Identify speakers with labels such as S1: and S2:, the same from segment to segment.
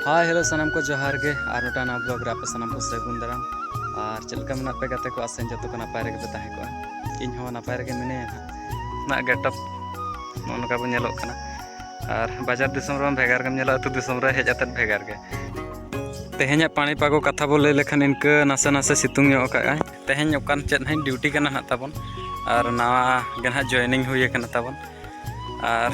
S1: ᱦᱟᱭ hello ᱥᱟᱱᱟᱢ ᱠᱚ ᱡᱚᱦᱟᱨ ᱜᱮ ᱟᱨ ᱢᱤᱫᱴᱟᱝ ᱱᱟᱣᱟ ᱵᱞᱚᱜ ᱨᱮ ᱟᱯᱮ ᱥᱟᱱᱟᱢ ᱠᱚ ᱥᱟᱹᱜᱩᱱ ᱫᱟᱨᱟᱢ ᱟᱨ ᱪᱮᱫ ᱞᱮᱠᱟ ᱢᱮᱱᱟᱜ ᱯᱮ ᱜᱟᱛᱮ ᱠᱚ ᱟᱥᱮᱱ ᱡᱚᱛᱚ ᱠᱚ ᱱᱟᱯᱟᱭ ᱨᱮᱜᱮ ᱯᱮ ᱛᱟᱦᱮᱸ ᱠᱚᱜᱼᱟ ᱤᱧ ᱦᱚᱸ ᱱᱟᱯᱟᱭ ᱨᱮᱜᱮ ᱢᱤᱱᱟᱹᱧᱟ ᱱᱟᱜ ᱜᱮᱴᱟᱯ ᱱᱚᱜᱼᱚ ᱱᱚᱝᱠᱟ ᱵᱚᱱ ᱧᱮᱞᱚᱜ ᱠᱟᱱᱟ ᱟᱨ ᱵᱟᱡᱟᱨ ᱫᱤᱥᱚᱢ ᱨᱮᱦᱚᱸ ᱵᱷᱮᱜᱟᱨ ᱜᱮᱢ ᱧᱮᱞᱚᱜᱼᱟ ᱟᱹᱛᱩ ᱫᱤᱥᱚᱢ ᱨᱮ ᱦᱮᱡ ᱟᱛᱮᱫ ᱵᱷᱮᱜᱟᱨ ᱜᱮ ᱛᱮᱦᱮᱧᱟᱜ ᱯᱟᱹᱱᱤ ᱯᱟᱜᱚ ᱠᱟᱛᱷᱟ ᱵᱚ ᱞᱟᱹᱭ ᱞᱮᱠᱷᱟᱱ ᱤᱱᱠᱟᱹ ᱱᱟᱥᱮ ᱱᱟᱥᱮ ᱥᱤᱛᱩᱝ ᱧᱚᱜ ᱠᱟᱜᱼᱟᱭ ᱛᱮᱦᱮᱧ ᱚᱠᱟᱱ ᱪᱮᱫ ᱦᱟᱸᱜ ᱰᱤᱭᱩᱴᱤ ᱠᱟᱱᱟ ᱱᱟᱜ ᱛᱟᱵᱚᱱ ᱟᱨ ᱱᱟᱣᱟ ᱜᱮ ᱱᱟᱜ ᱡᱚᱭᱮᱱᱤᱝ ᱦᱩᱭ ᱠᱟᱱᱟ ᱛᱟᱵᱚᱱ ᱟᱨ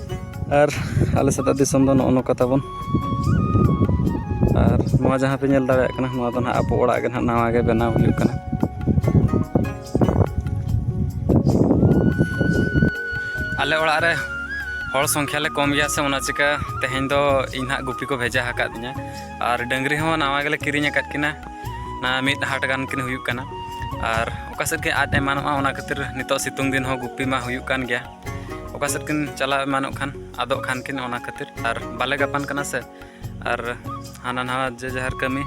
S1: ᱟᱨ ᱟᱞᱮ ᱥᱮᱫᱟᱜ ᱫᱤᱥᱚᱢ ᱫᱚ ᱱᱚᱜᱼᱚ ᱱᱚᱝᱠᱟ ᱛᱟᱵᱚᱱ ᱟᱨ ᱱᱚᱣᱟ ᱡᱟᱦᱟᱸ ᱯᱮ ᱧᱮᱞ ᱫᱟᱲᱮᱭᱟᱜ ᱠᱟᱱᱟ ᱱᱚᱣᱟ ᱫᱚ ᱦᱟᱸᱜ ᱟᱵᱚ ᱚᱲᱟᱜ ᱜᱮ ᱦᱟᱸᱜ ᱱᱟᱣᱟ ᱜᱮ ᱵᱮᱱᱟᱣ ᱦᱩᱭᱩᱜ ᱠᱟᱱᱟ ᱟᱞᱮ ᱚᱲᱟᱜ ᱨᱮ ᱦᱚᱲ ᱥᱚᱝᱠᱷᱟ ᱞᱮ ᱠᱚᱢ ᱜᱮᱭᱟ ᱥᱮ ᱚᱱᱟ ᱪᱤᱠᱟ ᱛᱮᱦᱮᱧ ᱫᱚ ᱤᱧ ᱦᱟᱸᱜ ᱜᱩᱯᱤ ᱠᱚ ᱵᱷᱮᱡᱟ ᱟᱠᱟᱫ ᱛᱤᱧᱟ ᱟᱨ ᱰᱟᱹᱝᱨᱤ ᱦᱚᱸ ᱱᱟᱣᱟ ᱜᱮᱞᱮ ᱠᱤᱨᱤᱧ ᱟᱠᱟᱫ ᱠᱤᱱᱟ ᱱᱟ ᱢᱤᱫ ᱦᱟᱴ ᱜᱟᱱ ᱠᱤᱱ ᱦᱩᱭᱩᱜ ᱠᱟᱱᱟ ᱟᱨ ᱚᱠᱟ ᱥᱮᱫ ᱜᱮ ᱟᱫ ᱮᱢᱟᱱᱚᱜᱼᱟ ᱚᱱᱟ ᱠᱷᱟᱹᱛᱤᱨ ᱱᱤᱛᱚᱜ ᱥᱤᱛᱩᱝ ᱫᱤᱱ ᱦᱚᱸ ᱜᱩᱯᱤ ᱢᱟ ᱦᱩᱭᱩᱜ ᱠᱟᱱ ᱜᱮᱭᱟ ᱚᱠᱟ ᱥᱮᱫ ᱠᱤᱱ ᱪᱟᱞᱟᱣ ᱮᱢᱟᱱᱚᱜ ᱠᱷᱟᱱ ᱟᱫᱚᱜ ᱠᱷᱟᱱ ᱠᱤᱱ ᱚᱱᱟ ᱠᱷᱟᱹᱛᱤᱨ ᱟᱨ ᱵᱟᱞᱮ ᱜᱟᱯᱟᱱ ᱠᱟᱱᱟ ᱥᱮ ᱟᱨ ᱦᱟᱱᱟ ᱱᱟᱣᱟ ᱡᱮ ᱡᱟᱦᱟᱨ ᱠᱟᱹᱢᱤ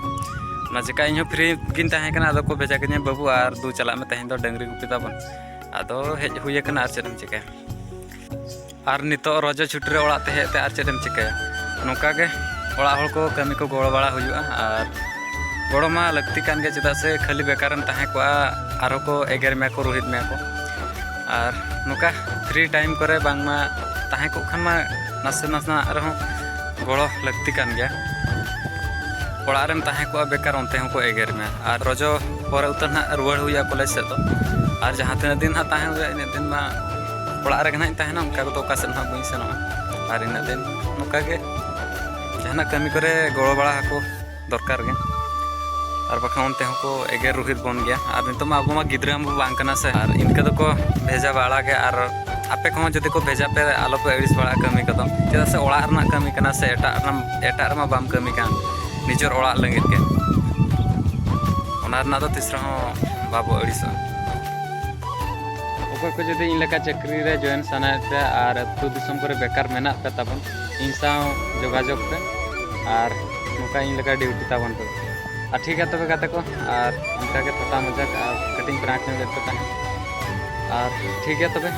S1: ᱚᱱᱟ ᱪᱮᱠᱟ ᱤᱧ ᱦᱚᱸ ᱯᱷᱨᱤ ᱜᱤᱧ ᱛᱟᱦᱮᱸ ᱠᱟᱱᱟ ᱟᱫᱚ ᱠᱚ ᱵᱷᱮᱡᱟ ᱠᱤᱧᱟ ᱵᱟᱹᱵᱩ ᱟᱨ ᱫᱩ ᱪᱟᱞᱟᱜ ᱢᱮ ᱛᱮᱦᱮᱧ ᱫᱚ ᱰᱟᱹᱝᱨᱤ ᱜᱩᱯᱤ ᱛᱟᱵᱚᱱ ᱟᱫᱚ ᱦᱮᱡ ᱦᱩᱭ ᱟᱠᱟᱱᱟ ᱟᱨ ᱪᱮᱫ ᱮᱢ ᱪᱤᱠᱟᱹᱭᱟ ᱟᱨ ᱱᱤᱛᱚᱜ ᱨᱚᱡᱚ ᱪᱷᱩᱴᱤ ᱨᱮ ᱚᱲᱟᱜ ᱛᱮ ᱦᱮᱡ ᱛᱮ ᱟᱨ ᱪᱮᱫ ᱮᱢ ᱪᱤᱠᱟᱹᱭᱟ ᱱᱚᱝᱠᱟ ᱜᱮ ᱚᱲᱟᱜ ᱦᱚᱲ ᱠᱚ ᱠᱟᱹᱢᱤ ᱠᱚ ᱜᱚᱲᱚ ᱵᱟᱲᱟ ᱦᱩᱭᱩᱜᱼᱟ ᱟᱨ ᱜᱚᱲᱚ ᱢᱟ ᱞᱟᱹᱠᱛᱤ ᱠᱟᱱ ᱜᱮ ᱪᱮᱫᱟᱜ ᱥᱮ ᱠᱷᱟᱹᱞᱤ ᱵᱮᱠᱟᱨᱮᱢ ᱛᱟᱦᱮᱸ ᱠᱚᱜᱼᱟ ᱟᱨᱦᱚᱸ ᱠᱚ ᱮᱜᱮᱨ ᱢᱮᱭᱟ ᱠᱚ ᱨᱳᱦᱮᱫ ᱢᱮᱭᱟ ᱠᱚ ᱟᱨ ᱱᱚᱝᱠᱟ ᱯᱷᱨᱤ ᱴᱟᱭᱤᱢ ᱠᱚᱨᱮ ᱵᱟᱝᱢᱟ ᱛᱟᱦᱮᱸ ᱠᱚᱜ ᱠᱷᱟᱱ ᱢᱟ ᱱᱟᱥᱮ ᱱᱟᱥᱮᱱᱟᱜ ᱨᱮᱦᱚᱸ ᱜᱚᱲᱚ ᱞᱟᱹᱠᱛᱤ ᱠᱟᱱ ᱜᱮᱭᱟ ᱚᱲᱟᱜ ᱨᱮᱢ ᱛᱟᱦᱮᱸ ᱠᱚᱜᱼᱟ ᱵᱮᱠᱟᱨ ᱚᱱᱛᱮ ᱦᱚᱸᱠᱚ ᱮᱜᱮᱨ ᱢᱮᱭᱟ ᱟᱨ ᱨᱚᱡᱚ ᱯᱚᱨᱮ ᱩᱛᱟᱹᱨ ᱱᱟᱦᱟᱜ ᱨᱩᱣᱟᱹᱲ ᱦᱩᱭᱩᱜᱼᱟ ᱠᱚᱞᱮᱡᱽ ᱥᱮᱫ ᱫᱚ ᱟᱨ ᱡᱟᱦᱟᱸ ᱛᱤᱱᱟᱹᱜ ᱫᱤᱱ ᱦᱟᱸᱜ ᱛᱟᱦᱮᱸ ᱦᱩᱭᱩᱜᱼᱟ ᱤᱱᱟᱹᱜ ᱫᱤᱱ ᱢᱟ ᱚᱲᱟᱜ ᱨᱮᱜᱮ ᱱᱟᱦᱟᱜ ᱤᱧ ᱛᱟᱦᱮᱱᱟ ᱚᱱᱠᱟ ᱠᱚᱫᱚ ᱚᱠᱟ ᱥᱮᱫ ᱦᱟᱸᱜ ᱵᱟᱹᱧ ᱥᱮᱱᱚᱜᱼᱟ ᱟᱨ ᱤᱱᱟᱹᱜ ᱫᱤᱱ ᱱᱚᱝᱠᱟ ᱜᱮ ᱡᱟᱦᱟᱱᱟᱜ ᱠᱟᱹᱢᱤ ᱠᱚᱨᱮ ᱜᱚᱲᱚ ᱵᱟᱲᱟ ᱟᱠᱚ ᱫᱚᱨᱠᱟᱨ ᱜᱮ ᱟᱨ ᱵᱟᱠᱷᱟᱱ ᱚᱱᱛᱮ ᱦᱚᱸᱠᱚ ᱮᱜᱮᱨ ᱨᱩᱦᱤᱫ ᱵᱚᱱ ᱜᱮᱭᱟ ᱟᱨ ᱱᱤᱛᱚᱜ ᱢᱟ ᱟᱵᱚ ᱢᱟ ᱜᱤᱫᱽᱨᱟᱹ ᱦᱚᱸ ᱵᱟᱝ ᱠᱟᱱᱟ ᱥᱮ ᱟᱨ ᱤᱱᱠᱟᱹ ᱫᱚᱠᱚ ᱵᱷᱮᱡᱟ ᱵᱟᱲᱟ ᱜᱮ ᱟᱨ ᱟᱯᱮ ᱠᱚᱦᱚᱸ ᱡᱩᱫᱤ ᱠᱚ ᱵᱷᱮᱡᱟ ᱯᱮ ᱟᱞᱚ ᱯᱮ ᱟᱹᱲᱤᱥ ᱵᱟᱲᱟᱜᱼᱟ ᱠᱟᱹᱢᱤ ᱠᱚᱫᱚ ᱪᱮᱫᱟᱜ ᱥᱮ ᱚᱲᱟᱜ ᱨᱮᱱᱟᱜ ᱠᱟᱹᱢᱤ ᱠᱟᱱᱟ ᱥᱮ ᱮᱴᱟᱜ ᱮᱴᱟᱜ ᱨᱮᱢᱟ ᱵᱟᱢ ᱠᱟᱹᱢᱤ ᱠᱟᱱ ᱱᱤᱡᱮᱨ ᱚᱲᱟᱜ ᱞᱟᱹᱜᱤᱫ ᱜᱮ ᱚᱱᱟ ᱨᱮᱱᱟᱜ ᱫᱚ ᱛᱤᱥ ᱨᱮᱦᱚᱸ ᱵᱟᱵᱚ ᱟᱹᱲᱤᱥᱚᱜᱼᱟ ᱚᱠᱚᱭ ᱠᱚ ᱡᱩᱫᱤ ᱤᱧ ᱞᱮᱠᱟ ᱪᱟᱹᱠᱨᱤ ᱨᱮ ᱡᱚᱭᱮᱱ ᱥᱟᱱᱟᱭᱮᱫ ᱯᱮᱭᱟ ᱟᱨ ᱟᱹᱛᱩ ᱫᱤᱥᱚᱢ ᱠᱚᱨᱮ ᱵᱮᱠᱟᱨ ᱢᱮᱱᱟᱜ ᱯᱮ ᱛᱟᱵᱚᱱ ᱤᱧ ᱥᱟᱶ ᱡᱳᱜᱟᱡᱳᱜᱽ ᱯᱮ ᱟᱨ ᱱᱚᱝᱠᱟ ᱤᱧ ᱞᱮᱠᱟ ᱰᱤᱭᱩᱴᱤ ᱛᱟᱵᱚᱱ ᱯᱮ ᱟᱨ ᱴᱷᱤᱠ ᱜᱮᱭᱟ ᱛᱚᱵᱮ ᱜᱟᱛᱮ ᱠᱚ ᱟᱨ ᱚᱱᱠᱟᱜᱮ ᱛᱷᱚᱴᱟ ᱢᱚᱡᱟᱠ ᱟᱨ ᱠᱟᱹᱴᱤᱡ ᱯᱨᱟᱝᱠ ᱧᱚᱜ ᱞᱮᱫ ᱯᱮ ᱛᱟᱦᱮᱸᱫ ᱟᱨ ᱴᱷᱤᱠ ᱜᱮᱭᱟ ᱛᱚᱵᱮ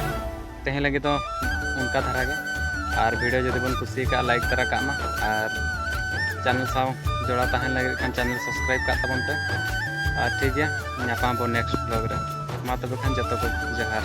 S1: ᱛᱮᱦᱮᱧ ᱞᱟᱹᱜᱤᱫ ᱫᱚ ᱚᱱᱠᱟ ᱫᱷᱟᱨᱟ ᱜᱮ ᱟᱨ ᱵᱷᱤᱰᱤᱭᱳ ᱡᱩᱫᱤ ᱵᱚᱱ ᱠᱩᱥᱤ ᱠᱟᱜᱼᱟ ᱞᱟᱭᱤᱠ ᱛᱟᱨᱟ ᱠᱟᱜ ᱢᱟ ᱟᱨ ᱪᱮᱱᱮᱞ ᱥᱟᱶ ᱡᱚᱲᱟᱣ ᱛᱟᱦᱮᱱ ᱞᱟᱹᱜᱤᱫ ᱠᱷᱟᱱ ᱪᱮᱱᱮᱞ ᱥᱟᱵᱥᱠᱨᱟᱭᱤᱵ ᱠᱟᱜ ᱛᱟᱵᱚᱱ ᱯᱮ ᱟᱨ ᱴᱷᱤᱠ ᱜᱮᱭᱟ ᱧᱟᱯᱟᱢ ᱟᱵᱚᱱ ᱱᱮᱠᱥᱴ ᱵᱞᱚᱜ ᱨᱮ ᱢᱟ ᱛᱚᱵᱮ ᱠᱷᱟᱱ ᱡᱚᱛᱚ ᱠᱚ ᱡᱚᱦᱟᱨ